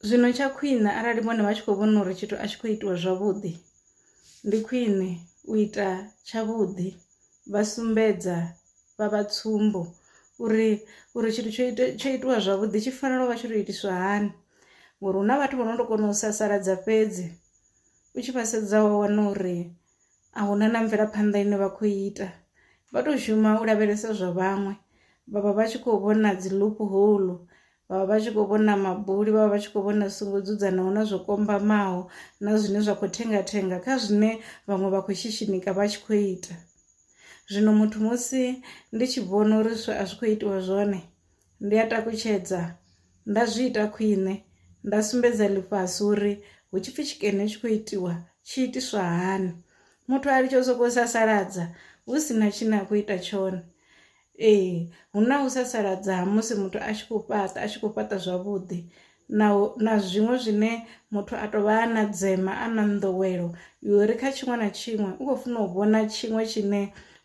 Zwino tsha khwine arali vhone vha tshi khou vhona uri tshithu a tshi khou itiwa zwavhuḓi ndi khwine u ita tshavhuḓi vha sumbedza vha vha tsumbo uri uri tshithu tsho ita tsho itiwa zwavhuḓi tshi fanela u vha tshi to itiswa hani ngori hu na vhathu vho no to kona u sasaladza fhedzi u tshi vha sedza wa wana uri a huna na mvelaphanḓa ine vha khou ita vha to shuma u lavhelesa zwa vhaṅwe vhavha vha tshi khou vhona dzi loophole vha vha vha tshi khou vhona mabuli vha vha vha tshi khou vhona songo dzudzanaho na zwo kombamaho na zwine zwa khou thengathenga kha zwine vhaṅwe vha khou shishinika vha tshi khou ita zwino muthu musi ndi tshi vhona uri zwi a zwi khou itiwa zwone ndi a takutshedza nda zwi ita khwine nda sumbedza ḽifhasi uri hu tshi pfhi tshikene tshi khou itiwa tshi itiswa hani muthu a litsho sokou sasaladza hu si na tshine a khou ita tshone Ee, hu na u sasaladza ha musi muthu a tshi khou fhaṱa a tshi khou fhaṱa zwavhuḓi na na zwiṅwe zwine muthu a tou vha na dzema a na nḓowelo yori kha tshiṅwe na tshiṅwe u khou funa u vhona tshiṅwe tshine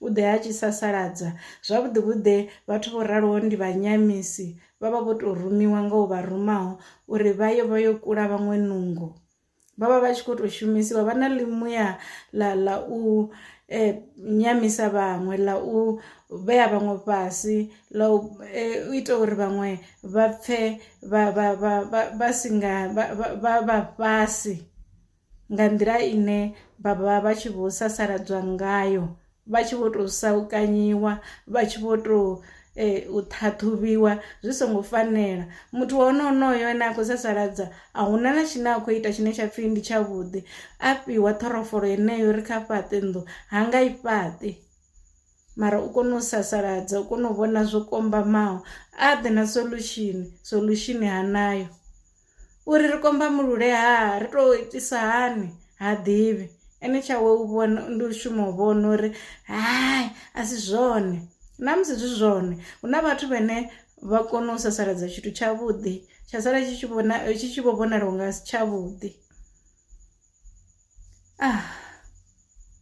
u ḓe a tshi sasaladza zwavhuḓi vhuḓe vhathu vho raloho ndi vhanyamisi vha vha vho tou rumiwa nga u vha rumaho uri vha ye vha yo kula vhaṅwe nungo. vha vha vha tshi khou tou shumisiwa vha na ḽimuya ḽa ḽa u eh, nyamisa vhaṅwe ḽa u vhea vhaṅwe fhasi ḽa u eh, ita uri vhaṅwe vha pfe vha si nga vha fhasi nga nḓila ine vha vha vha tshi vho sasaladzwa ngayo vha tshi vho tou saukanyiwa vha tshi vho tou eh, u ṱhaṱhuvhiwa zwi songo fanela muthu wa hone onoyo ane a khou sasaladza a huna na tshine a khou ita tshine tsha pfhi ndi tshavhuḓi a fhiwa ṱhorofolo yeneyo ri kha fhaṱe nnḓu ha nga i fhaṱe mara u kone u sasaladza u kone u vhona zwo kombamaho a ḓe na solution solution hanayo uri ri kombamulule ha ri to itisa hani ha ḓivhi ene tshawe u vhona ndi u shuma u vhona uri hai a si zwone na musi zwi zwone hu na vhathu vhane vha kona u sasaladza tshithu tshavhuḓi tsha sala tshi tshi vhona tshi tshi vho vhonala unga si tshavhuḓi ah